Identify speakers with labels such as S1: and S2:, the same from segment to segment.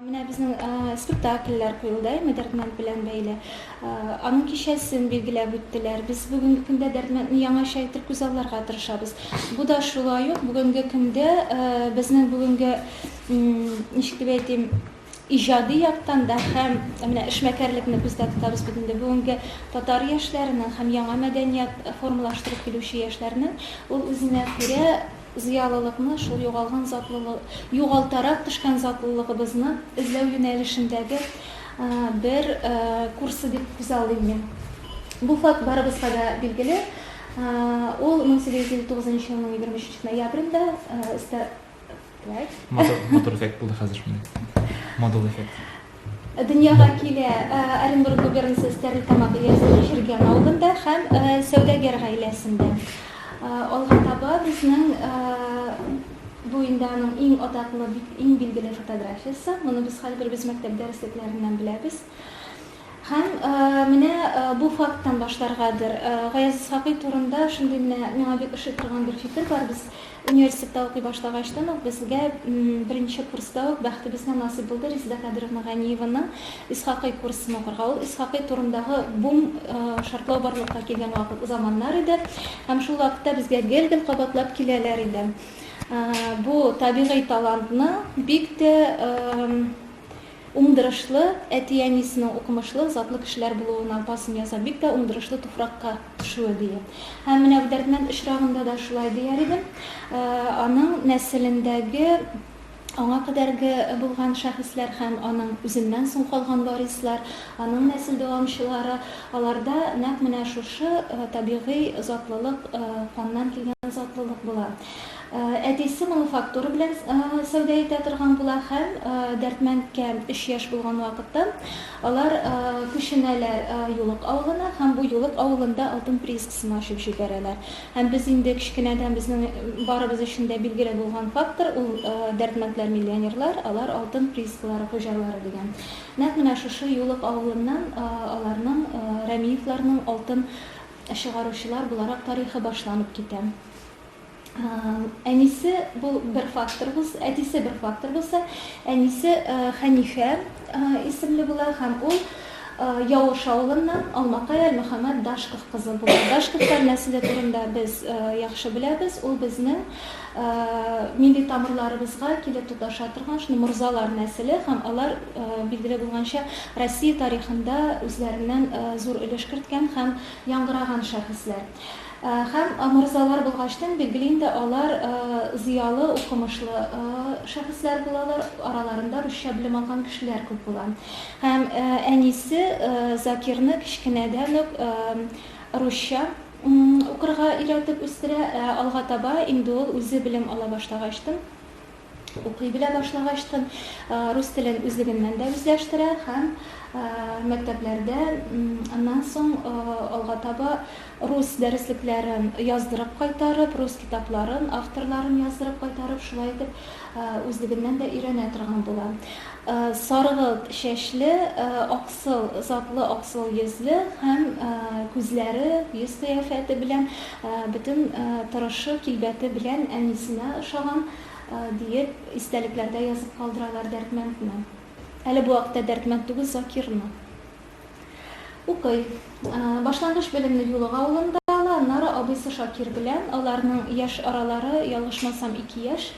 S1: Менә безнең э, спектакльләр куелды әйме Дәрдмәнд белән бәйле. Э, аның кичәсен билгеләп үттеләр. Без бүгенге көндә Дәрдмәндне яңача итеп күзалларга тырышабыз. Бу да шулай ук бүгенге көндә э, безнең бүгенге ничек дип әйтим, Иҗади яктан да һәм менә эшмәкәрлекне күздә тотабыз бит инде, бүгенге татар яшьләренең һәм яңа мәдәният формалаштырып килүче яшьләрнең ул үзенә күрә зыялылыкны, шул югалган затлылы, югалтарак төшкән затлылыгыбызны эзләү юнәлешендәге бер курсы дип күзаллыйм мин. Бу факт барыбызга да билгеле. Ул 1859 елның 23 ноябрендә
S2: Матур эффект булды хәзер шундый. Модул эффект. Дөньяга
S1: килә Оренбург губернасы Стәрлетамак өязендә Җиргән авылында һәм сәүдәгәр гаиләсендә. Алга таба безнең бу инде аның иң атаклы, иң билгеле фотографиясе. Моны без хәзер без мәктәп дәреслекләреннән беләбез. Һәм менә бу факттан башларгадыр. Гаяз Исхакый турында шундый менә миңа бик ошый торган бер фикер бар. Без университетта укый башлагачтан ук безгә беренче курста ук бәхетебезгә насыйп булды Резеда Кадыровна Ганиеваның Исхакый курсын укырга. Ул Исхакый турындагы бум шартлау барлыкка килгән вакыт, заманнар иде. Һәм шул вакытта безгә гел-гел кабатлап киләләр иде. Бу табигый талантны бик тә Уңдырышлы әти-әнисенең укымышлы, затлы кешеләр булуына басым ясап, бик тә уңдырышлы туфракка төшүе дия. Һәм менә бу дәрдмәнд очрагында да шулай дияр идем. Аның нәселендәге, аңа кадәрге булган шәхесләр һәм аның үзеннән соң калган варислар, аның нәсел дәвамчылары, аларда нәкъ менә шушы табигый затлылык, каннан килгән затлылык була. Әтисе мануфактура белән сәүдә итә торган була һәм Дәрдмәндкә өч яшь булган вакытта алар күченәләр Юлык авылына һәм бу Юлык авылында алтын приискасын ачып җибәрәләр. Һәм без инде кечкенәдән безнең барыбыз өчен дә билгеле булган фактор ул Дәрдмәндләр миллионерлар, алар алтын приискалары хуҗалары дигән. Нәкъ менә шушы Юлык авылыннан аларның, Рәмиевларның алтын чыгаручылар буларак тарихы башланып китә. Әнисе бу бер фактор булса, әтисе бер фактор булса, әнисе Хәнифә исемле була һәм ул Явыш авылыннан Алмакай Әлмөхәммәд Дашков кызы була. Дашковтар нәселе турында без яхшы беләбез. Ул безнең милли тамырларыбызга килеп тоташа торган шуны морзалар нәселе һәм алар билгеле булганча Россия тарихында үзләреннән зур өлеш керткән һәм яңгыраган шәхесләр. Һәм морзалар булгачтын, билгеле инде, алар зыялы, укымышлы шәхесләр булалар, араларында русча белем алган кешеләр күп була. Һәм әнисе Закирны кечкенәдән үк русча укырга өйрәтеп үстерә, ә алга таба инде ул үзе белем ала башлагачтын, укый белә башлагачтын, рус телен үзлегеннән дә үзләштерә һәм мәктәпләрдә аннан соң алга таба рус дәреслекләрен яздырып кайтарып, рус китапларын, авторларын яздырып кайтарып, шулай итеп үзлегеннән дә өйрәнә торган була. Саргылт чәчле, аксыл, затлы аксыл йөзле һәм күзләре, йөз кыяфәте белән Бөтен торышы, килбәте белән әнисенә ошаган, диеп, истәлекләрдә язып калдыралар Дәрдмәндне. Әле бу вакытта Дәрдмәнд түгел, Закирны. Укый. Башлангыч белемне Юлык авылында ала, аннары абыйсы Шакир белән, аларның яшь аралары, ялгышмасам, ике яшь,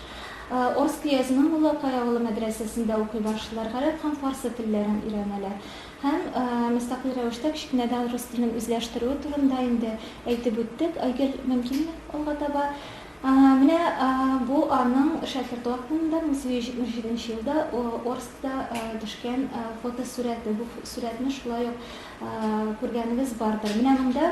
S1: Орск өязенең Муллакай авылы мәдрәсәсендә укый башлыйлар, гарәп һәм фарсы телләрен өйрәнәләр. Һәм мөстәкыйль рәвештә кечкенәдән рус телен үзләштерүе турында инде әйтеп үттек. Айгөл, мөмкинме алга таба? Менә бу аның шәкерт вакытында, 1977 нче елда Орскта төшкән фотосурәте. Бу сурәтне шулай ук күргәнегез бардыр. Менә монда.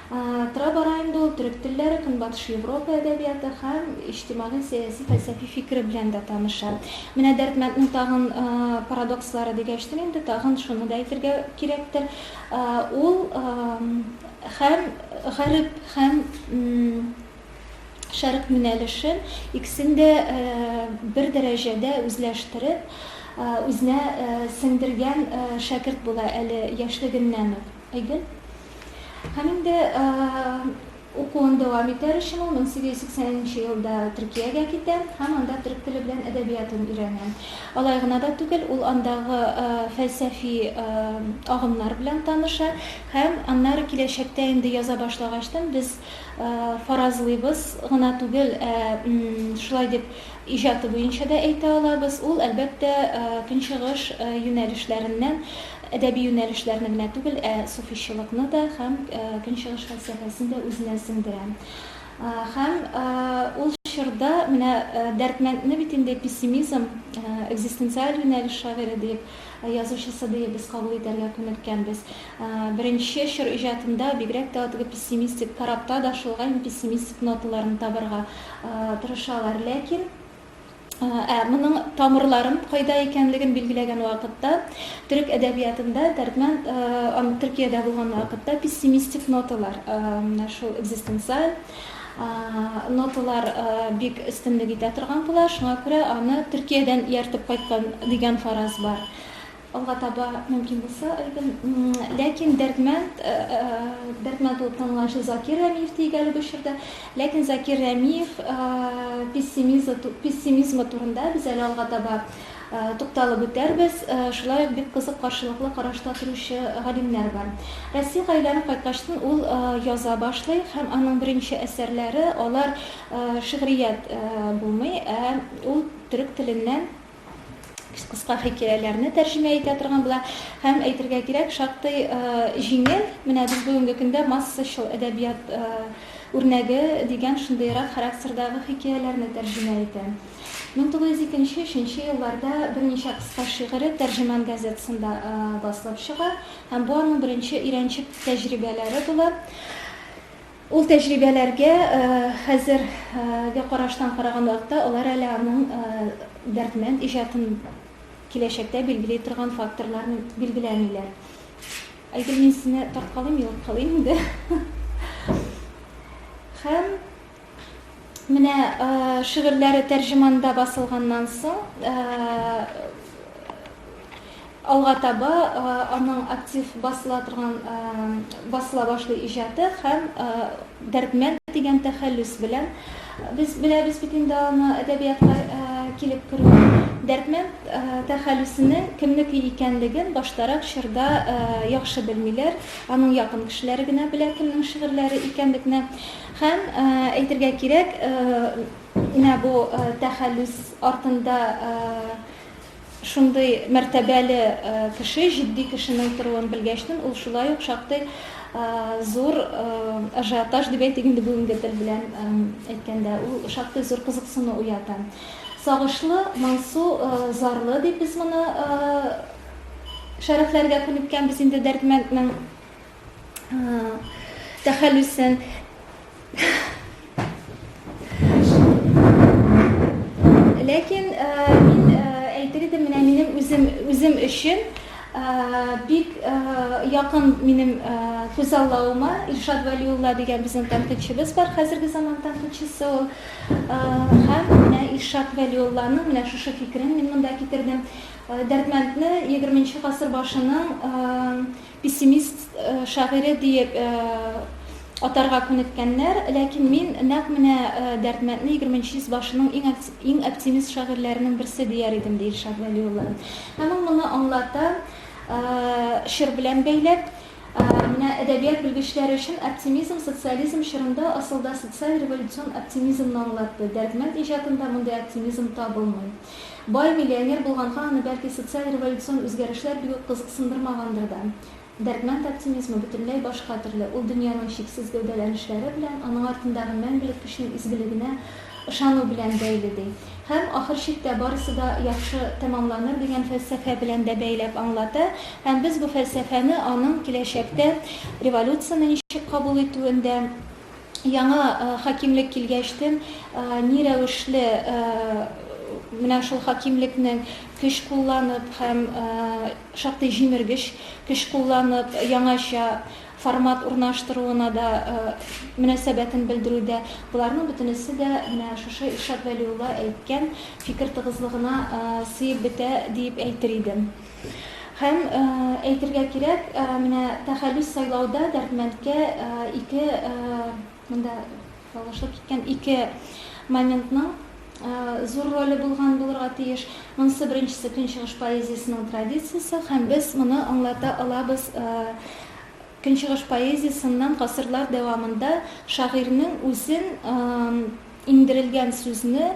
S1: Тора-бара инде ул төрек телләре, Көнбатыш Европа әдәбияты һәм иҗтимагый-сәяси фәлсәфи фикере белән дә таныша. Менә Дәрдмәнднең тагын парадокслары дигәчтен инде тагын шуны да әйтергә кирәктер, ул һәм гареп, һәм шәрык юнәлешен, икесен дә бер дәрәҗәдә үзләштереп, үзенә сеңдергән шәкерт була әле яшьлегеннән үк. Айгөл? Һәм инде укуын дәвам итәр өчен ул 1880 нче елда Төркиягә китә һәм анда төрек теле белән әдәбиятын өйрәнә. Алай гына да түгел, ул андагы фәлсәфи агымнар белән таныша һәм аннары киләчәктә инде яза башлагачтын без фаразлыйбыз гына түгел, ә шулай дип иҗаты буенча да әйтә алабыз, ул, әлбәттә, көнчыгыш юнәлешләреннән Әдәби юнәлешләрне генә түгел, ә суфичылыкны да һәм Көнчыгыш фәлсәфәсен дә үзенә сеңдерә. Һәм ул чорда менә Дәрдмәндне бит инде пессимизм, экзистенциаль юнәлеш шагыйре диеп, язучысы диеп без кабул итәргә күнеккәнбез. Беренче чор иҗатында бигрәк тә теге пессимистик, Корабта да шулай, пессимистик ноталарны табарга тырышалар. Ләкин. Ә моның тамырларын кайда икәнлеген билгеләгән вакытта, төрек әдәбиятында Дәрдмәнд Төркиядә булган вакытта пессимистик ноталар, менә шул экзистенциаль ноталар бик өстенлек итә торган була. Шуңа күрә аны Төркиядән ияртеп кайткан дигән фараз бар. Алга таба мөмкин булса, әлбәт. Ләкин Дәрдмәнд, Дәрдмәнд булып танылганчы Закир Рәмиев диик әле бу чорда. Ләкин Закир Рәмиев пессимизмы турында без әле алга таба тукталып үтәрбез. Шулай ук бик кызык каршылыклы карашта торучы галимнәр бар. Россиягә әйләнеп кайткачтын ул яза башлый һәм аның беренче әсәрләре, алар шигърият булмый, ә ул төрек теленнән кыска хикәяләрне тәрҗемә итә торган була һәм әйтергә кирәк шактый э, җиңел менә без бүгенге көндә массачыл әдәбият э, үрнәге дигән шундыйрак характердагы хикәяләрне тәрҗемә итә 1902-3 елларда берничә кыска шигыре тәрҗеман газетасында э, басылып чыга һәм бу аның беренче өйрәнчек тәҗрибәләре була Ул тәҗрибәләргә хәзерге караштан караган вакытта алар әле аның Дәрдмәнд иҗатын киләчәктә билгели торган факторларны билгеләмиләр. Айгөл, мин сине тарткалыйм, югалткалыйм инде. Һәм. Менә шигырьләре тәрҗеманда басылганнан соң алга таба аның актив басыла торган басыла башлый иҗаты һәм Дәрдмәнд дигән тәхәллүс белән без беләбез бит инде аны әдәбиятка килеп керү. Дәрдмәнд тәхәллүсенең кемнеке икәнлеген баштарак чорда яхшы белмиләр, аның якын кешеләре генә белә кемнең шигырьләре икәнлекне. Һәм, әйтергә кирәк, менә бу тәхәллүс артында шундый мәртәбәле кеше, җитди кешенең торуын белгәчтен, ул шулай ук шактый зур ажиотаж дип әйтик инде бүгенге тел белән әйткәндә, ул шактый зур кызыксыну уята. Сагышлы, моңсу, зарлы дип без моны шәрехләргә күнеккәнбез инде Дәрдмәнднең тәхәллүсен ләкин мин әйтер идем менә минем үзем үзем өчен бик якын минем күз аллавыма Илшат Вәлиулла дигән безнең тәнкыйтьчебез бар хәзерге заман тәнкыйтьчесе ул һәм менә Илшат Вәлиулланың менә шушы фикерен мин монда китердем Дәрдмәндне 20 нче гасыр башының Пессимист шагыйре диеп атарга күнеккәннәр, ләкин мин нәкъ менә Дәрдмәндне егерменче йөз башының иң иң оптимист шагыйрьләренең берсе дияр идем, ди Илшат Вәлиуллин. Һәм ул моны аңлата, чор белән бәйләп, Менә әдәбият белгечләре өчен оптимизм социализм чорында асылда социаль-революцион оптимизмны аңлатты, Дәрдмәнд иҗатында мондый оптимизм табылмый. Бай миллионер булганга аны, бәлки, социаль революцион үзгәрешләр бик үк кызыксындырмагандыр да. Дәрдмәнд оптимизмы бөтенләй башка төрле, ул дөньяның чиксез гәүдәләнешләре белән, аның артындагы мәңгелек көчнең изгелегенә ышану белән бәйле, ди. Һәм, ахыр чиктә, барысы да яхшы тәмамланыр дигән фәлсәфә белән дә бәйләп аңлата. Һәм без бу фәлсәфәне аның киләчәктә революцияне ничек кабул итүендә, яңа хакимлек килгәчтен ни рәвешле менә шул хакимлекнең көч кулланып һәм шактый җимергеч көч кулланып яңача формат урнаштыруына да мөнәсәбәтен белдерүдә боларның бөтенесе дә менә шушы Илшат Вәлиулла әйткән фикер тыгызлыгына сыеп бетә диеп әйтер идем. Һәм, әйтергә кирәк, менә тәхәллүс сайлауда Дәрдмәндкә ике, монда ялгышлык киткән, ике моментның зур роле булган булырга тиеш. Монысы, беренчесе, Көнчыгыш поэзиясенең традициясе, һәм без моны аңлата алабыз Көнчыгыш поэзиясеннән гасырлар дәвамында шагыйрьнең үзен иңдерелгән сүзне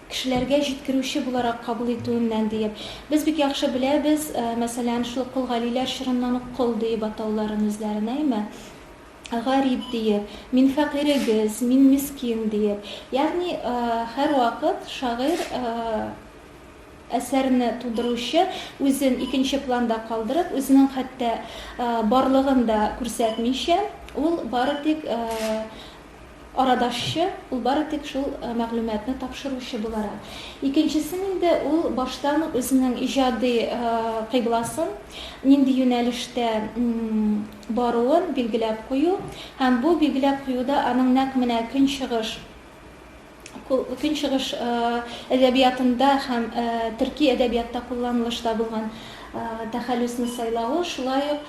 S1: кешеләргә җиткерүче буларак кабул итүеннән, диеп. Без бик яхшы беләбез, мәсәлән, шул ук Кол Галиләр чорыннан ук Кол диеп атауларын үзләрен, әйме? Гариб диеп, Мин фәкыйрегез, Мин мискин диеп. Ягъни һәрвакыт шагыйрь, әсәрне тудыручы үзен икенче планда калдырып, үзенең хәтта барлыгын да күрсәтмичә, ул бары тик Арадашчы, ул бары тик шул мәгълүматны тапшыручы буларак. Икенчесен инде ул баштан ук үзенең иҗади кыйбласын, нинди юнәлештә баруын билгеләп кую һәм бу билгеләп куюда аның нәкъ менә көнчыгыш, Көнчыгыш әдәбиятында һәм төрки әдәбиятта кулланылышта булган тәхәллүсне сайлавы, шулай ук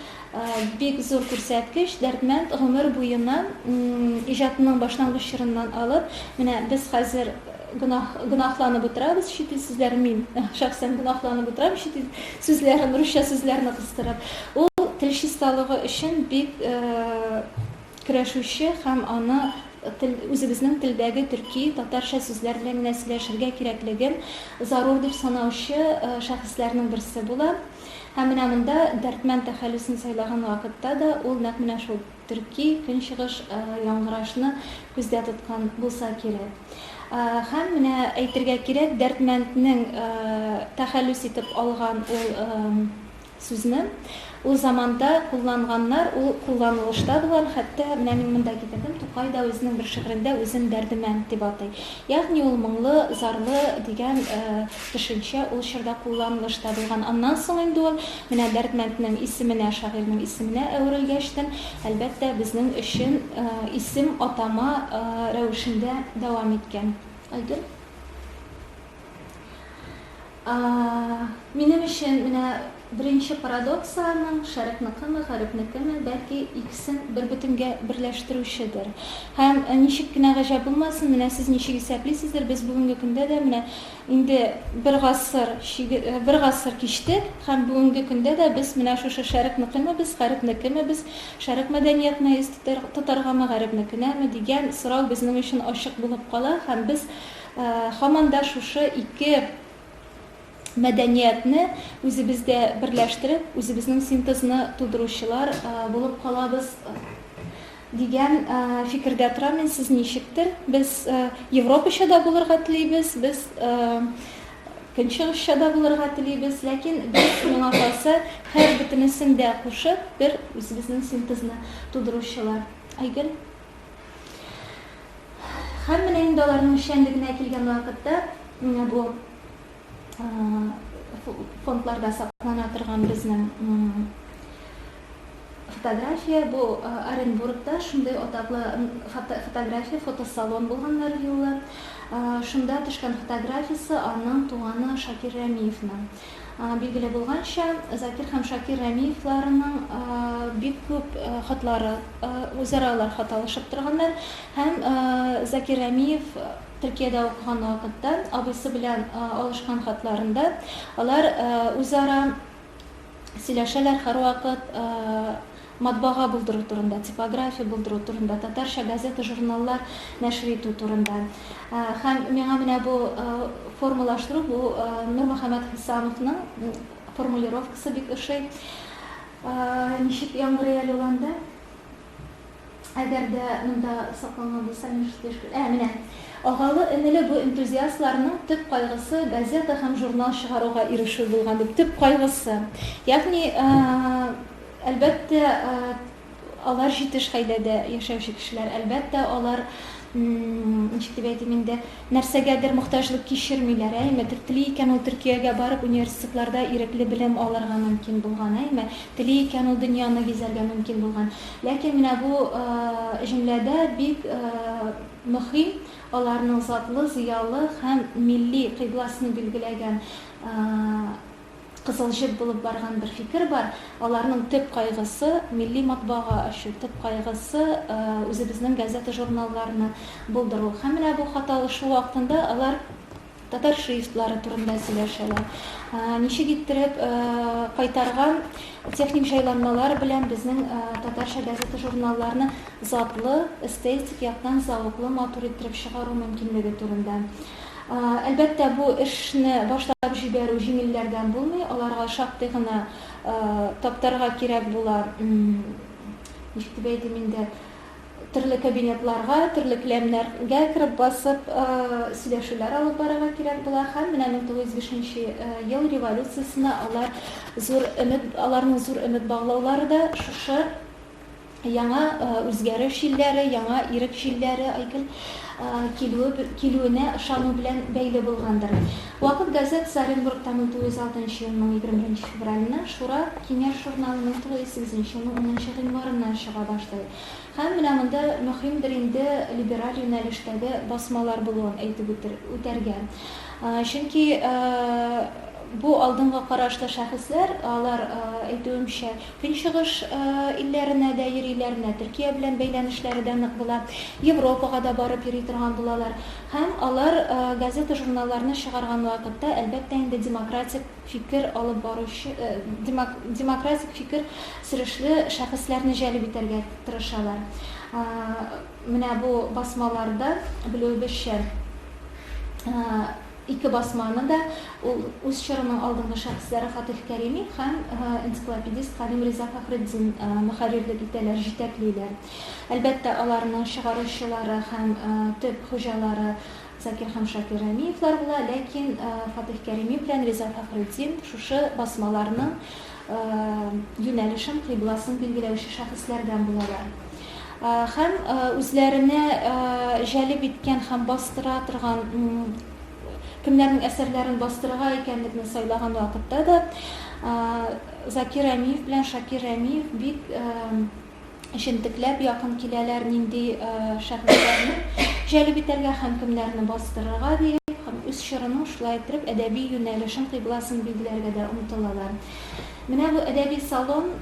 S1: бик зур күрсәткеч. Дәрдмәнд гомер буена иҗатының башлангыч чорыннан алып, менә без хәзер гөнаһ, гөнаһланып утырабыз, чит ил сүзләрен мин шәхсән гөнаһланып утырам, чит ил сүзләрен, русча сүзләрне кыстырып. Ул тел чисталыгы өчен бик Керәшүче һәм аны тел, үзебезнең телдәге төрки, татарча сүзләр белән генә сөйләшергә кирәклеген зарур дип санаучы шәхесләрнең берсе була. Һәм менә монда Дәрдмәнд тәхәллүсен сайлаган вакытта да ул нәкъ менә шул төрки, көнчыгыш яңгырашны күздә тоткан булса кирәк. Һәм менә әйтергә кирәк, Дәрдмәнднең тәхәллүс итеп алган ул Сүзне ул заманда кулланганнар, ул кулланылышта булган, хәтта менә мин монда китердем, Тукай да үзенең бер шигырендә үзен Дәрдемәнд дип атый. Ягъни ул моңлы, зарлы дигән төшенчә ул чорда кулланылышта булган. Аннан соң инде ул менә Дәрдмәнднең исеменә, шагыйрьнең исеменә әверелгәчтен, әлбәттә, безнең өчен исем, атама рәвешендә дәвам иткән. Айгөл. Минем өчен менә беренче парадокс аның, шәрекныкымы, гарепнекеме, бәлки, икесен бербөтенгә берләштерүчедер. Һәм, ничек кенә гаҗәп булмасын, менә сез ничек исәплисездер, без бүгенге көндә дә менә инде бер гасыр чиге, бер гасыр кичтек, һәм бүгенге көндә дә без менә шушы шәрекныкеме без, гарепнекеме без, шәрек мәдәниятенә йөз тотаргамы, гарепнекенәме, дигән сорау безнең өчен ачык булып кала, һәм без, Һаман да шушы ике мәдәниятне үзебездә берләштереп, үзебезнең синтезны тудыручылар булып калабыз дигән фикердә торам мин. Сез ничектер? Без европача да булырга телибез, без көнчыгышча да булырга телибез, ләкин без миңа калса, һәр бөтенесен дә кушып, бер үзебезнең синтезны тудыручылар. Айгөл? Һәм менә инде аларның эшчәнлегенә килгән вакытта, менә бу фондларда саклана торган безнең фотография, бу Оренбургта шундый атаклы фотография, фотосалон булганнар юлы. Шунда төшкән фотографиясе аның туганы Шакир Рәмиевның. Билгеле булганча, Закир һәм Шакир Рәмиевларының бик күп хатлары, үзара алар хат алышып торганнар. Һәм Закир Рәмиев Төркиядә укыган вакытта абыйсы белән алышкан хатларында алар үзара сөйләшәләр һәрвакыт. матбага булдыру турында, типография булдыру турында, татарча газета-журналлар нәшер итү турында. Һәм миңа менә бу формалаштыру, бу Нурмөхәммәт Хисамовның формулировкасы бик ошый. Ничек яңгырый әле ул анда? Әгәр дә монда сакланган булса, мин шундый эш Ә, менә. Агалы-энеле бу энтузиастларның төп кайгысы газета һәм журнал чыгаруга ирешү булган, дип, төп кайгысы. Ягъни, Әлбәттә, алар җитеш гаиләдә яшәүче кешеләр. Әлбәттә, алар, ничек дип әйтим инде, нәрсәгәдер мохтаҗлык кичермиләр, әйме? Тели икән ул Төркиягә барып, университетларда ирекле белем алырга мөмкин булган, әйме? Тели икән ул дөньяны гизәргә мөмкин булган. Ләкин менә бу җөмләдә бик мөхим аларның затлы, зыялы һәм милли кыйбласын билгеләгән Кызыл җеп булып барган бер фикер бар, аларның төп кайгысы, милли матбага ачу, төп кайгысы, үзебезнең газета-журналларны булдыру. Һәм менә бу хат алышу вакытында алар татар шрифтлары турында сөйләшәләр. Ничек иттереп кайтарган техник җайланмалар белән безнең татарча газета-журналларны затлы, эстетик яктан зәвыклы, матур иттереп чыгару мөмкинлеге турында. Әлбәттә, бу эшне башлап җибәрү җиңелләрдән булмый, аларга шактый гына таптарга кирәк була. Ничек дип әйтим инде, төрле кабинетларга, төрле келәмнәргә кереп басып, сөйләшүләр алып барырга кирәк була. Һәм менә 1905 нче ел революциясенә алар зур өмет, аларның зур өмет баглаулары да шушы яңа үзгәреш җилләре, яңа ирек җилләре, Айгөл, килүе, килүенә ышану белән бәйле булгандыр. Вакыт газетасы Оренбургтан үтү 106 нчы елның 21 февральне, Шура, киңәш журналының тулы 8 нче елның 10 нчы гыйнварыннан чыга башлый. Һәм менә монда мөһимдер инде либераль юнәлештәге басмалар булуын әйтеп үтер, үтәргә. Чөнки бу алдынгы карашлы шәхесләр, алар әйтүемчә, Көнчыгыш илләренә дә йөриләр, менә Төркия белән бәйләнешләре дә нык була, Европага да барып йөри торган булалар. Һәм алар газета-журналларны чыгарган вакытта, әлбәттә инде, демократик фикер алып баручы, демократик фикер сөрешле шәхесләрне җәлеп итәргә тырышалар. Менә бу басмаларда, белүебезчә, Ике басманы да ул үз чорының алдынгы шәхесләре Фатыйх Кәрими һәм энциклопедист Галим Риза Фәхретдин мөхәррирлек итәләр, җитәклиләр. Әлбәттә, аларның чыгаручылары һәм төп хуҗалары Закир һәм Шакир Рәмиевлар була, ләкин Фатыйх Кәрими белән Риза Фәхретдин шушы басмаларның юнәлешен, кыйбласын билгеләүче шәхесләрдән булалар. Һәм үзләренә җәлеп иткән һәм бастыра торган, кемнәрнең әсәрләрен бастырырга икәнлекне сайлаган вакытта да Закир Рәмиев белән Шакир Рәмиев бик җентекләп якын киләләр, нинди шәхесләрне җәлеп итәргә һәм кемнәрне бастырырга диеп, һәм үз чорының шулай иттереп әдәби юнәлешен, кыйбласын билгеләргә дә омтылалар. Менә бу әдәби салон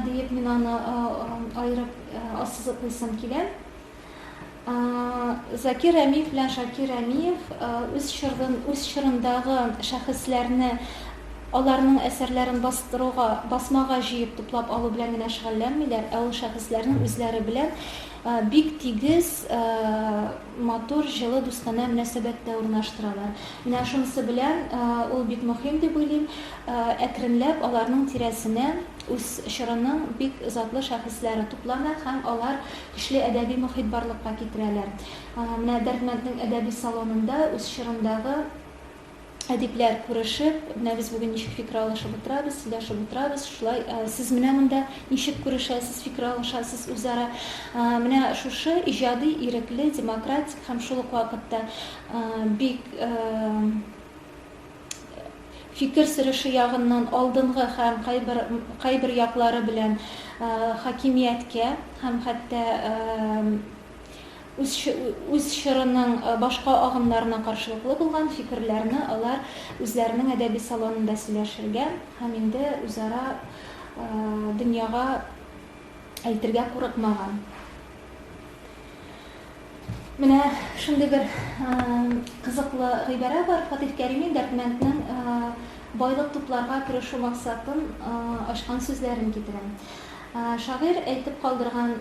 S1: диеп мин аны аерып ассызыклыйсым килә. Закир Рәмиев белән Шакир Рәмиев үз чорын, үз чорындагы шәхесләрне, аларның әсәрләрен бастыруга, басмага җыеп туплап алу белән генә шөгыльләнмиләр, ә ул шәхесләрнең үзләре белән бик тигез, матур, җылы, дустанә мөнәсәбәттә урнаштыралар. Менә шунысы белән ул бик мөһим дип уйлыйм. Әкренләп аларның тирәсенә үз чорының бик затлы шәхесләре туплана һәм алар Көчле әдәби мохит барлыкка китерәләр. Менә Дәрдмәнднең әдәби салонында үз чорындагы әдипләр күрешеп, менә без бүген ничек фикер алышып утырабыз, сөйләшеп утырабыз, шулай сез менә монда ничек күрешәсез, фикер алышасыз үзара. Менә шушы иҗади, ирекле, демократик һәм шул ук вакытта бик фикер сөреше ягыннан алдынгы һәм кайбер кайбер яклары белән хакимияткә һәм хәтта үз үз чорының башка агымнарына каршылыклы булган фикерләрне алар үзләренең әдәби салонында сөйләшергә һәм инде үзара дөньяга әйтергә курыкмаган. Менә шундый бер кызыклы гыйбарә бар. Фатих Кәримин Дәрдмәнднең байлык тупларга тырышу максатын ачкан сүзләрен китерәм. Шагыйрь әйтеп калдырган,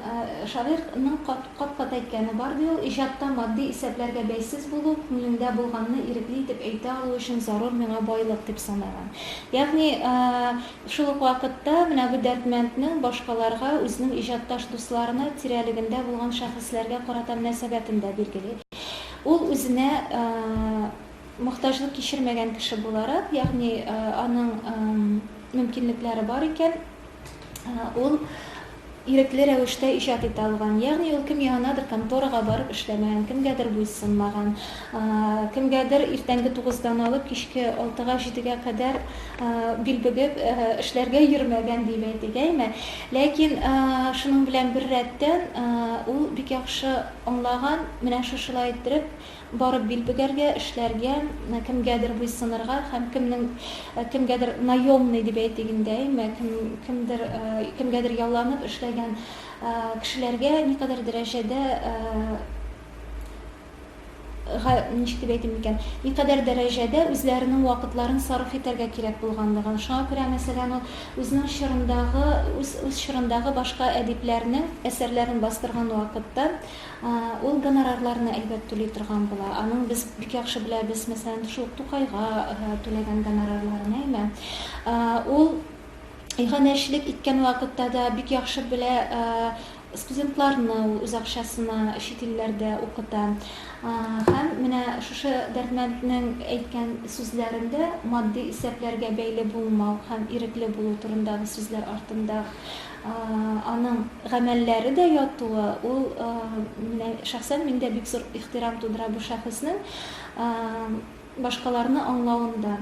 S1: шагыйрьнең кат-кат әйткәне бар, ди ул, Иҗатта матди исәпләргә бәйсез булу, күңелеңдә булганны ирекле итеп әйтә алу өчен зарур миңа байлык, дип санаган. Ягъни, Шул ук вакытта менә бу Дәрдмәнднең башкаларга, үзенең иҗатташ дусларына, тирәлегендә булган шәхесләргә карата мөнәсәбәтен дә билгели. Ул үзенә мохтаҗлык кичермәгән кеше буларак, ягъни аның мөмкинлекләре бар икән, ул, Ирекле рәвештә иҗат итә алган, ягъни ул кем янынадыр конторага барып эшләмәгән, кемгәдер буйсынмаган, кемгәдер иртәнге тугыздан алып кичке алтыга-җидегә кадәр бил бөгеп эшләргә йөрмәгән дип әйтик, әйме? Ләкин шуның белән беррәттән, ул бик яхшы аңлаган, менә шушылай иттереп, Барып бил бөгәргә, эшләргә, кемгәдер буйсынырга һәм кемнең, кемгәдер наемный дип әйтик инде, әйме, кем, кемдер, кемгәдер ялланып эшләгән кешеләргә никадәр дәрәҗәдә, га, ничек дип әйтим микән, никадәр дәрәҗәдә үзләренең вакытларын сарыф итәргә кирәк булганлыгын. Шуңа күрә, мәсәлән, ул үзенең чорындагы, үз, үз чорындагы башка әдипләрнең әсәрләрен бастырган вакытта, Ул гонорарларны, әлбәт, түли торган була. Аның без бик яхшы беләбез, мәсәлән, шул ук Тукайга түләгән гонорарларын, әйме? Ул иганәчелек иткән вакытта да бик яхшы белә студентларны ул үз акчасына чит илләрдә укыта. Һәм менә шушы Дәрдмәнднең әйткән сүзләрендә матди исәпләргә бәйле булмау һәм ирекле булу турындагы сүзләр артында Аның гамәлләре дә ятуы, ул менә шәхсән миндә бик зур ихтирам тудыра бу шәхеснең башкаларны аңлавында.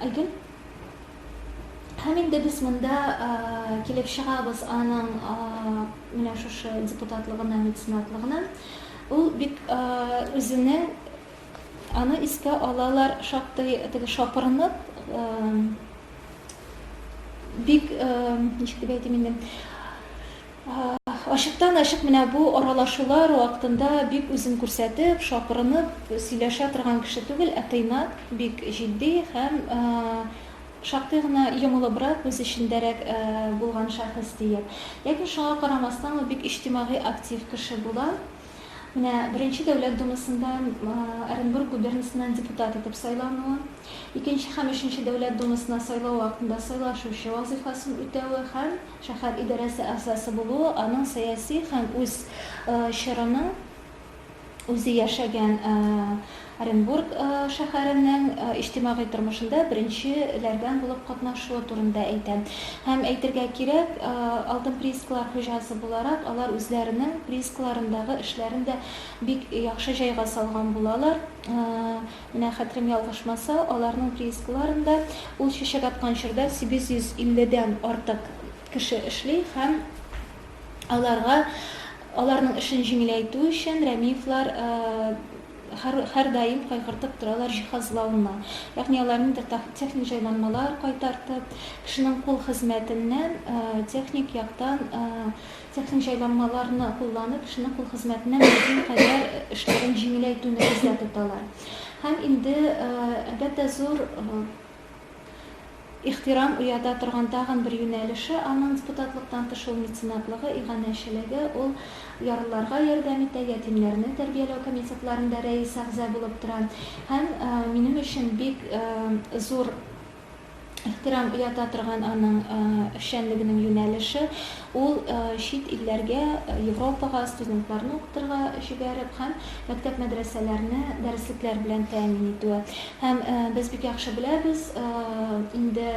S1: Айгөл. Һәм инде без монда килеп чыгабыз аның менә шушы депутатлыгына, меценатлыгына. Ул бик үзенең аны искә алалар шактый теге шапырынып бик ничек дип әйтим инде ачыктан ачык менә бу аралашулар вакытында бик үзен күрсәтеп шапырынып сөйләшә торган кеше түгел ә тыйнак бик җитди һәм шактый гына йомылыбрак үз эчендәрәк булган шәхес диеп ләкин шуңа карамастан ул бик иҗтимагый актив кеше була Менә Беренче Дәүләт Думасында Оренбург губернасыннан депутат итеп сайлануы, Икенче һәм Өченче Дәүләт Думасына сайлау вакытында сайлашучы вазыйфасын үтәве һәм шәһәр идарәсе әгъзасы булуы аның сәяси һәм үз чорының үзе яшәгән Оренбург шәһәренең иҗтимагый тормышында беренче ләрдән булып катнашуы турында әйтә. Һәм, әйтергә кирәк, Алтын приискалар хуҗасы буларак, алар үзләренең приискаларындагы эшләрен дә бик яхшы җайга салган булалар. Менә хәтерем ялгышмаса, аларның приискаларында ул чәчәк аткан чорда 850 дән артык кеше эшли һәм аларга аларның эшен җиңеләйтү өчен Рәмиевлар Һәр һәрдаим кайгыртып торалар җиһазлауны, ягъни алар ниндидер техник җайланмалар кайтартып, кешенең кул хезмәтеннән техник яктан техник җайланмаларны кулланып, кешенең кул хезмәтеннән мөмкин кадәр эшләрен җиңеләйтүне күздә тоталар. Һәм инде әлбәттә зур Ихтирам уята торган тагын бер юнәлеше аның депутатлыктан тыш ул меценатлыгы, иганәчелеге. Ул ярлыларга ярдәм итә, ятимнәрне тәрбияләү комитетларында рәис-әгъза булып тора. Һәм минем өчен бик зур ихтирам уята торган аның эшчәнлегенең юнәлеше, Ул чит илләргә, Европага студентларны укытырга җибәреп һәм мәктәп-мәдрәсәләрне дәреслекләр белән тәэмин итүе. Һәм без бик яхшы беләбез, инде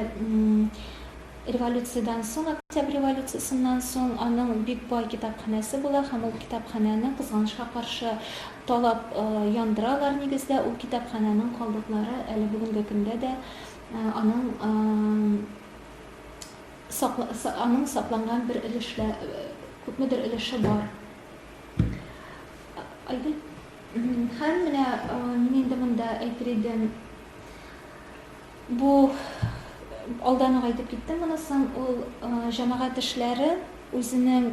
S1: революциядән соң, Октябрь революциясеннән соң аның бик бай китапханәсе була һәм ул китапханәне, кызганычка каршы, талап яндыралар. Нигездә, ул китапханәнең калдыклары әле бүгенге көндә дә аның Сакла, са, аның сакланган бер өлешлә, күпмедер өлеше бар. Айгөл. Һәм менә мин инде монда әйтер идем, бу алдан ук әйтеп киттем монысын, ул җәмәгать эшләре үзенең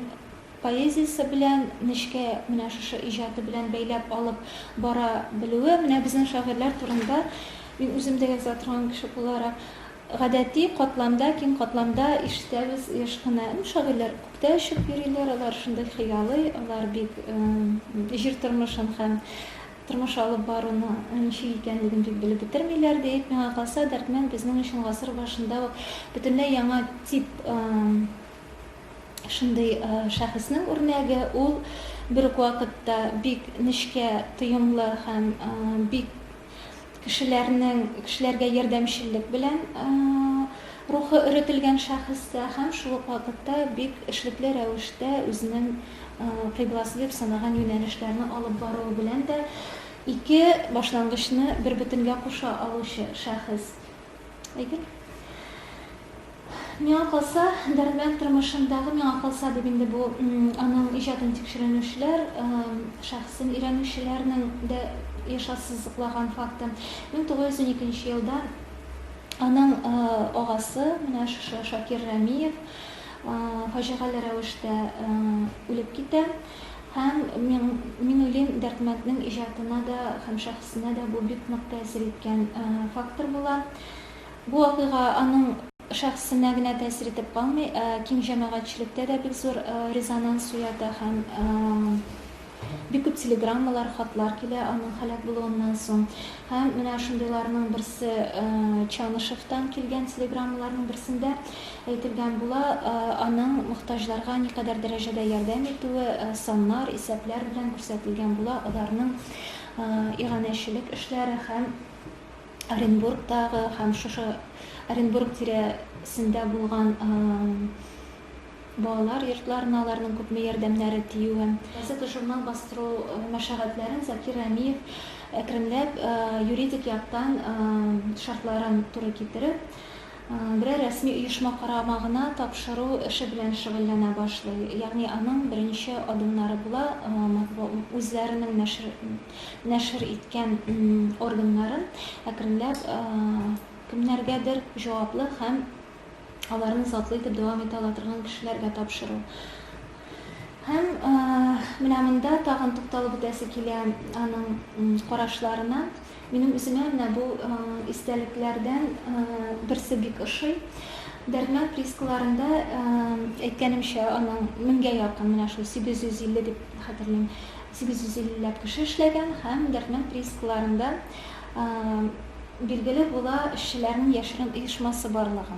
S1: поэзиясе белән нечкә менә шушы иҗаты белән бәйләп алып бара белүе, менә безнең шагыйрьләр турында мин үзем дә яза торган кеше буларак, Гадәти катламда, киң катламда ишетәбез еш кына, ну, шагыйрьләр күктә очып йөриләр, алар шундый хыялый, алар бик җир тормышын һәм тормыш алып баруны ничек икәнлеген бик белеп бетермиләр, диеп, миңа калса, Дәрдмәнд безнең өчен гасыр башында ук бөтенләй яңа тип шундый шәхеснең үрнәге, ул бер үк вакытта бик нечкә, тоемлы һәм бик Кешеләрнең кешеләргә ярдәмчеллек белән рухы өретелгән шәхес тә һәм шул ук вакытта бик эшлекле рәвештә үзенең кыйбласы дип санаган юнәлешләрне алып баруы белән дә ике башлангычны бербөтенгә куша алучы шәхес. Әйдик. Миңа калса, Дәрдмәнд тормышындагы миңа калса дип инде бу аның иҗатын тикшеренүчеләр, шәхесен өйрәнүчеләрнең дә еш ассызыклаган факты. 1912 елда аның агасы, менә шушы Шакир Рәмиев, фаҗигале рәвештә үлеп китә. Һәм мин, мин уйлыйм, Дәрдмәнднең иҗатына да һәм шәхесенә дә бу бик нык тәэсир иткән фактор була. Бу вакыйга аның шәхесенә генә тәэсир итеп калмый, ә киң җәмәгатьчелектә дә бик зур резонанс уята һәм бик күп телеграммалар, хатлар килә аның һәлак булуыннан соң. Һәм менә шундыйларның берсе Чанышевтан килгән телеграммаларның берсендә Әйтергә була, аның мохтаҗларга никадәр дәрәҗәдә ярдәм итүе саннар, исәпләр белән күрсәтелгән була, аларның иганәчелек эшләре һәм Оренбургтагы һәм шушы Оренбург тирәсендә булган балалар йортларына аларның күпме ярдәмнәре тиюе. Газета-журнал бастыру мәшәгатьләрен Закир Рәмиев әкренләп юридик яктан шартларын туры китереп, берәр рәсми оешма карамагына тапшыру эше белән шөгыльләнә башлый, ягъни аның беренче адымнары була матбу үзләренең нәшер нәшер иткән органнарын әкренләп кемнәргәдер җаваплы һәм аларны затлы итеп дәвам итә ала торган кешеләргә тапшыру. Һәм менә монда тагын тукталып үтәсе килә аның карашларына. Минем үземә менә бу истәлекләрдән берсе бик ошый. Дәрдмәнд приискаларында әйткәнемчә, аның меңгә якын, менә шул 850 дип хәтерлим, 850 ләп кеше эшләгән һәм Дәрдмәнд приискаларында билгеле була эшчеләрнең яшерен оешмасы барлыгы.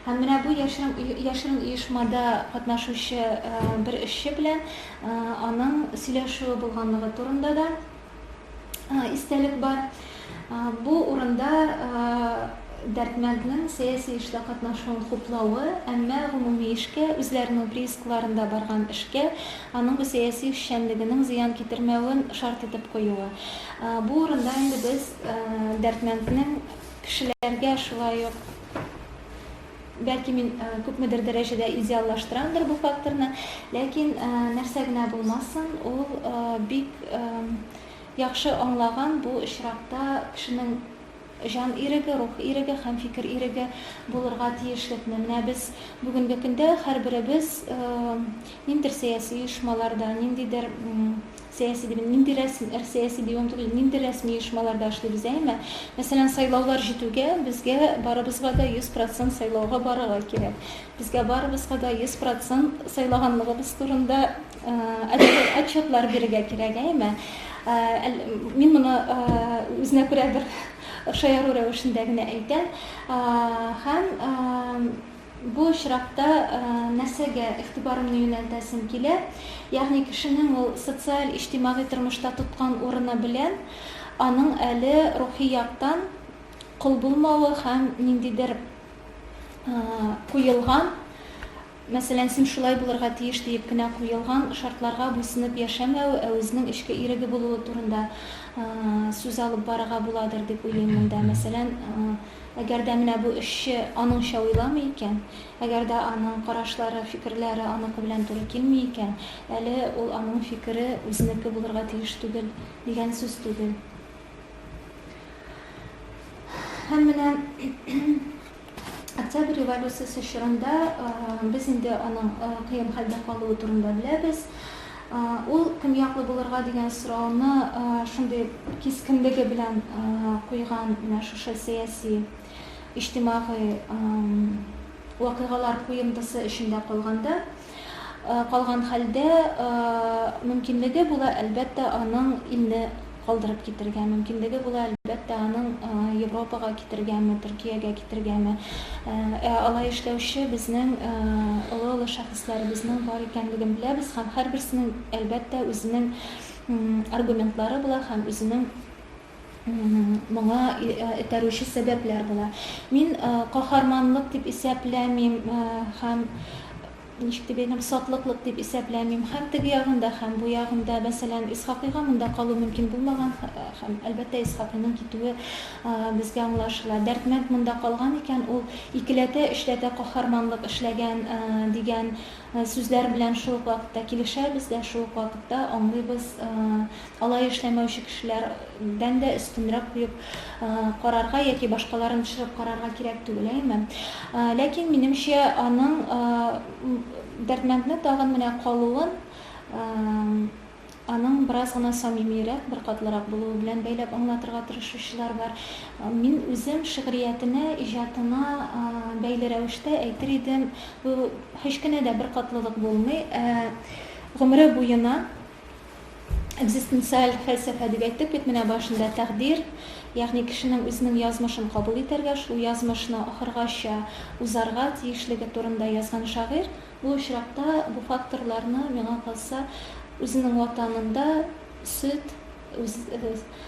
S1: Һәм менә бу яшерен, яшерен оешмада катнашучы бер эшче белән аның сөйләшүе булганлыгы турында да истәлек бар. Бу урында Дәрдмәнднең сәяси эштә катнашуын хуплавы, әмма гомуми эшкә, үзләренең приискаларында барган эшкә аның бу сәяси эшчәнлегенең зыян китермәвен шарт итеп куюы. Бу урында инде без Дәрдмәнднең кешеләргә шулай ук, Бәлки мин күпмедер дәрәҗәдә идеаллаштырамдыр бу факторны, ләкин нәрсә генә булмасын, ул бик яхшы аңлаган бу очракта кешенең җан иреге, рух иреге һәм фикер иреге булырга тиешлекне. Менә без бүгенге көндә һәрберебез ниндидер сәяси оешмаларда, ниндидер Сәяси дип, нинди рәсми, эр сәяси дип омтык ин, нинди рәсми оешмаларда эшлибез, әйеме? Мәсәлән, сайлаулар җитүгә, безгә барыбызга да 100 процент сайлауга барырга кирәк. Безгә барыбызга да 100 процент сайлаганлыгыбыз турында отчет, отчетлар бирергә кирәк, әйеме? Әл, мин моны үзенә күрә бер шаяру рәвешендә генә әйтәм. Һәм Бу очракта нәрсәгә игътибарымны юнәлтәсем килә, ягъни кешенең ул социаль-иҗтимагый тормышта тоткан урыны белән аның әле рухи яктан кол булмавы һәм ниндидер куелган, мәсәлән, син шулай булырга тиеш диеп кенә куелган шартларга буйсынып яшәмәве, ә үзенең эчке иреге булуы турында сүз алып барырга буладыр дип уйлыйм монда. Мәсәлән, Әгәр дә менә бу эшче аныңча уйламый икән, әгәр дә аның карашлары, фикерләре аныкы белән туры килми икән, әле ул аның фикере үзенеке булырга тиеш түгел, дигән сүз түгел. Һәм менә Октябрь революциясе чорында без инде аның кыен хәлдә калуы турында беләбез. Ул кем яклы булырга дигән сорауны шундый кискенлеге белән куйган менә шушы сәяси, иҗтимагый вакыйгалар куемтысы эчендә калганда, калган хәлдә, мөмкинлеге була, әлбәттә, аның илне калдырып китергә мөмкинлеге була, әлбәттә, аның Европага китергәме, Төркиягә китергәме. Ә алай эшләүче безнең олы-олы шәхесләребезнең бар икәнлеген беләбез һәм һәрберсенең, әлбәттә, үзенең аргументлары була һәм үзенең моңа этәрүче сәбәпләр була. Мин каһарманлык дип исәпләмим һәм Ничек дип әйтәм, сатлыклык дип исәпләмим. Һәм теге ягында, һәм бу ягында, мәсәлән, Исхакыйга монда калу мөмкин булмаган, һәм, әлбәттә, Исхакыйның китүе безгә аңлашыла. Дәрдмәнд монда калган икән, ул икеләтә, өчләтә каһарманлык эшләгән, дигән сүзләр белән шул ук вакытта килешәбез дә, шул ук вакытта аңлыйбыз Алай эшләмәүче кешеләрдән дә өстенрәк куеп карарга яки башкаларын төшереп карарга кирәк түгел, әйеме? Ләкин, минемчә, аның Дәрдмәндне тагын менә калуын аның бераз гына самимиерәк, беркатлырак булуы белән бәйләп аңлатырга тырышучылар бар. Мин үзем шигъриятенә, иҗатына бәйле рәвештә әйтер идем, бу һич кенә дә беркатлылык булмый, ә гомере буена Экзистенциаль фәлсәфә дип әйттек бит менә башында тәкъдир, ягъни кешенең үзенең язмышын кабул итәргә, шул язмышны ахыргача узарга тиешлеге турында язган шагыйрь. Бу очракта бу факторларны, миңа калса, үзенең ватанында сөт, үз,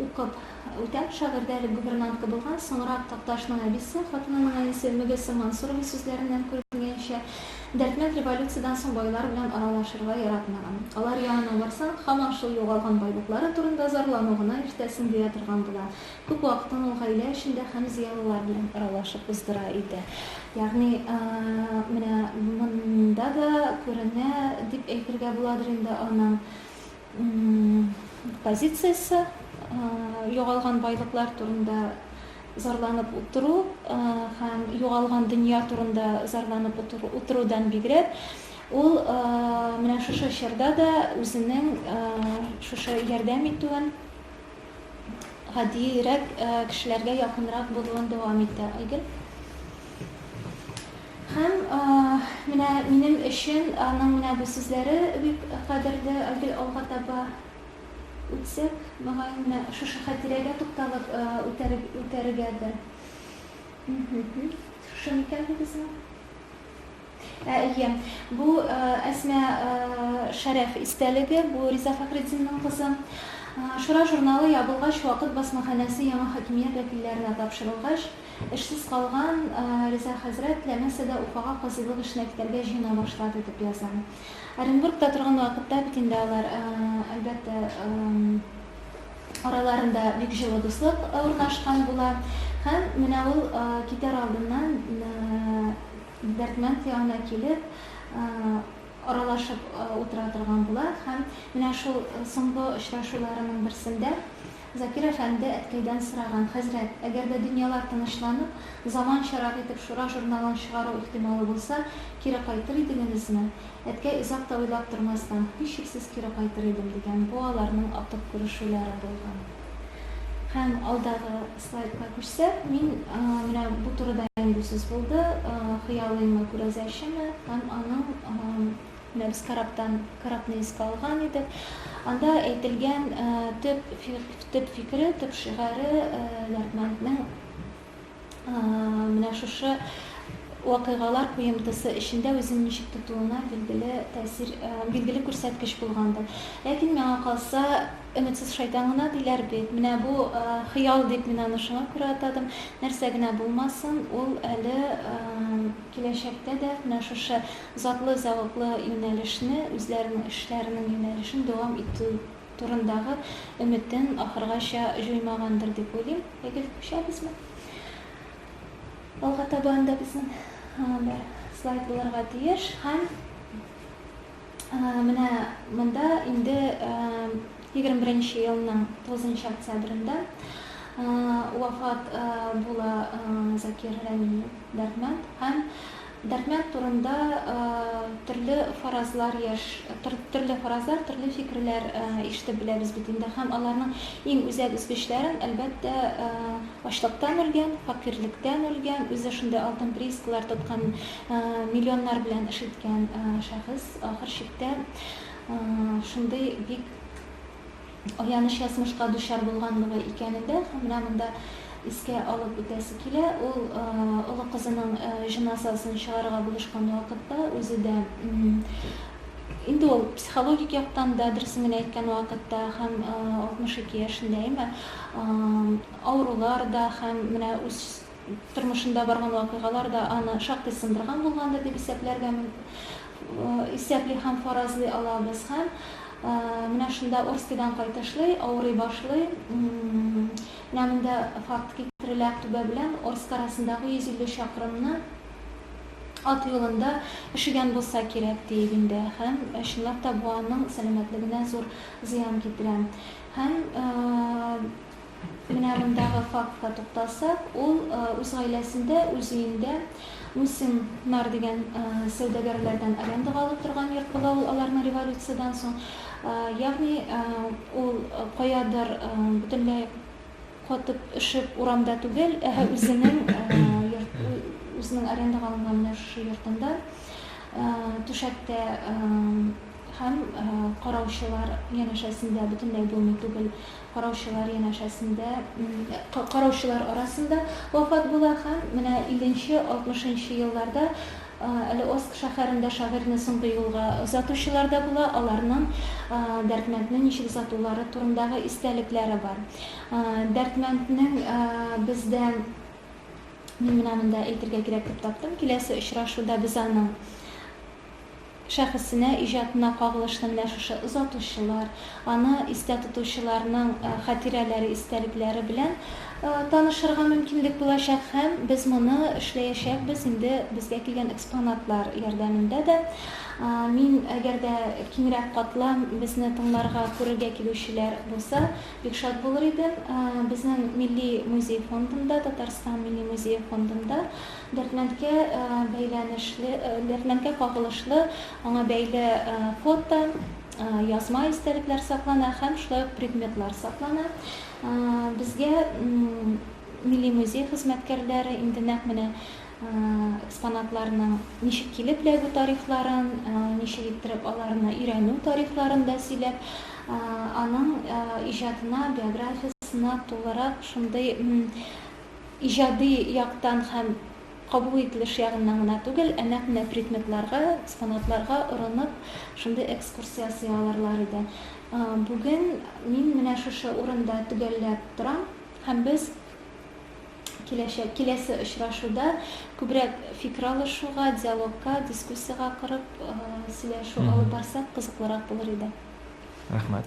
S1: укып үтә. Шагыйрьдә элек гувернантка булган, соңрак Такташның әбисе, хатынының әнисе Мөгесем Мансурова сүзләреннән күренгәнчә, Дәрдмәнд революциядән соң байлар белән аралашырга яратмаган. Алар янына барсаң, һаман шул югалган байлыклары турында зарлану гына иртәсен дия торган була. Күп вакытын ул гаилә эчендә һәм зыялылар белән аралашып уздыра иде. Ягъни, менә монда да күренә дип әйтергә буладыр инде аның. позициясе югалган байлыклар турында зарланып утыру һәм югалган дөнья турында зарланып утырудан бигрәк ул менә шушы чорда да үзенең шушы ярдәм итүен гадиерәк кешеләргә якынрак булуын дәвам итә айгөл Һәм менә минем өчен аның менә бу сүзләре бик кадерле, Айгөл алга таба үтсәк, мөгаен, менә шушы хәтирәгә тукталып үтәргә дә. Шушы микән бу безнең? Ә, әйе. Бу Әсма Шәрәф истәлеге, бу Риза Фәхретдинның кызы. Шура журналы ябылгач, Вакыт басмаханәсе яңа хакимият вәкилләренә тапшырылгач, Эшсез калган Риза хәзрәт Ләмәсәдә Уфага казыйлык эшенә китәргә җыена башлады, дип яза. Оренбургта торган вакытта бит инде алар, әлбәттә, араларында бик җылы дуслык урнашкан була. Һәм менә ул китәр алдыннан Дәрдмәнд янына килеп, аралашып утыра торган була. Һәм менә шул соңгы очрашуларының берсендә Закир әфәнде әткәйдән сораган, Хәзрәт, әгәр дә дөньялар тынычланып, заманчарак итеп Шура журналын чыгару ихтималы булса, кире кайтыр идегенезме? Әткәй озак та уйлап тормастан, Һичшиксез кире кайтыр идем, дигән. Бу аларның акып күрешүләре булган. Һәм алдагы слайдка күчсәк, мин менә бу турыда инде сүз булды, хыялыймы, күрәзәчеме һәм аның Немец корабтан корабны искә алган иде. Анда әйтелгән төп төп фикере, төп шигаре Ярдмәнднең менә шушы вакыйгалар куемтысы эчендә үзен ничек тотуына билгеле тәэсир, билгеле күрсәткеч булгандыр. Ләкин миңа калса, өметсез шайтан гына диләр бит. Менә бу хыял дип мин аны шуңа күрә атадым. Нәрсә генә булмасын, ул әле Киләчәктә дә менә шушы затлы зәвыклы юнәлешне, үзләренең эшләренең юнәлешен дәвам итү турындагы өметен ахыргача җуймагандыр дип уйлыйм. Әгел күчәбезме? Алга таба анда безнең бер слайд булырга тиеш һәм Менә монда инде 21 елның 9 октябрендә вафат була Закир Рәмиев Дәрдмәнд һәм Дәрдмәнд турында төрле фаразлар яш төрле фаразлар, төрле фикерләр ишетеп беләбез бит инде һәм аларның иң үзәк өзгечләрен әлбәттә ачлыктан үлгән, факирлектән үлгән, үзе шундый алтын приискалар тоткан миллионнар белән эш иткән шәхес ахыр чиктә шундый бик аяныч язмышка дучар булганлыгы икәнен дә менә монда искә алып үтәсе килә. Ул олы кызының җеназасын чыгарырга булышкан вакытта үзе дә инде ул психологик яктан да дөресен генә әйткән вакытта һәм 62 яшендә әйме авырулар да һәм менә үз Тормышында барган вакыйгалар да аны шактый сындырган булгандыр дип исәпләргә мөмкин, исәпли һәм фаразлый алабыз. Һәм менә шунда Орскидан кайтышлый, авырый башлый. Менә монда факт китерелә, Актүбә белән Орск арасындагы 150 чакрымны ат юлында өшегән булса кирәк, диик инде. Һәм чынлап та бу аның сәламәтлегенә зур зыян китерә. Һәм Менә мондагы фактка тукталсак, ул үз гаиләсендә, үз өендә Мусин Нар дигән сәүдәгәрләрдән арендага алып торган йорт була ул аларның революциядән соң. Ягъни ул каядыр бөтенләй катып, өшеп урамда түгел, ә үзенең йорт, үзенең арендага алынган менә шушы йортында түшәктә һәм караучылар янәшәсендә бөтенләй булмый түгел Караучылар янәшәсендә, караучылар арасында вафат була һәм менә илленче, алтмышынчы елларда әле Орск шәһәрендә шагыйрьне соңгы юлга озатучылар да була, аларның Дәрдмәндне ничек озатулары турындагы истәлекләре бар. Дәрдмәнднең бездә, мин менә монда әйтергә кирәк дип таптым, киләсе очрашуда без аның шәхесенә, иҗатына кагылышлы менә шушы озатучылар, аны истә тотучыларның хатирәләре, истәлекләре белән танышырга мөмкинлек булачак һәм без моны эшләячәкбез инде безгә килгән экспонатлар ярдәмендә дә. Мин, әгәр дә киңрәк катлам безне тыңларга, күрергә килүчеләр булса, бик шат булыр идем. Безнең Милли музей фондында, Татарстан Милли музее фондында Дәрдмәндкә бәйләнешле, Дәрдмәндкә кагылышлы аңа бәйле фото, язма истәлекләр саклана һәм шулай ук предметлар саклана. Безгә Милли музей хезмәткәрләре инде нәкъ менә экспонатларның ничек килеп эләгү тарихларын, ничек иттереп аларны өйрәнү тарихларын да сөйләп, аның иҗатына, биографиясенә тулырак шундый Иҗади яктан һәм кабул ителеш ягыннан гына түгел, ә нәкъ менә предметларга, экспонатларга орынып, шундый экскурсия ясый алырлар иде. Бүген мин менә шушы урында төгәлләп торам һәм без киләчәк, киләсе очрашуда күбрәк фикер алышуга, диалогка, дискуссиягә корып, сөйләшү алып барсак,
S2: кызыклырак
S1: булыр иде. Рәхмәт.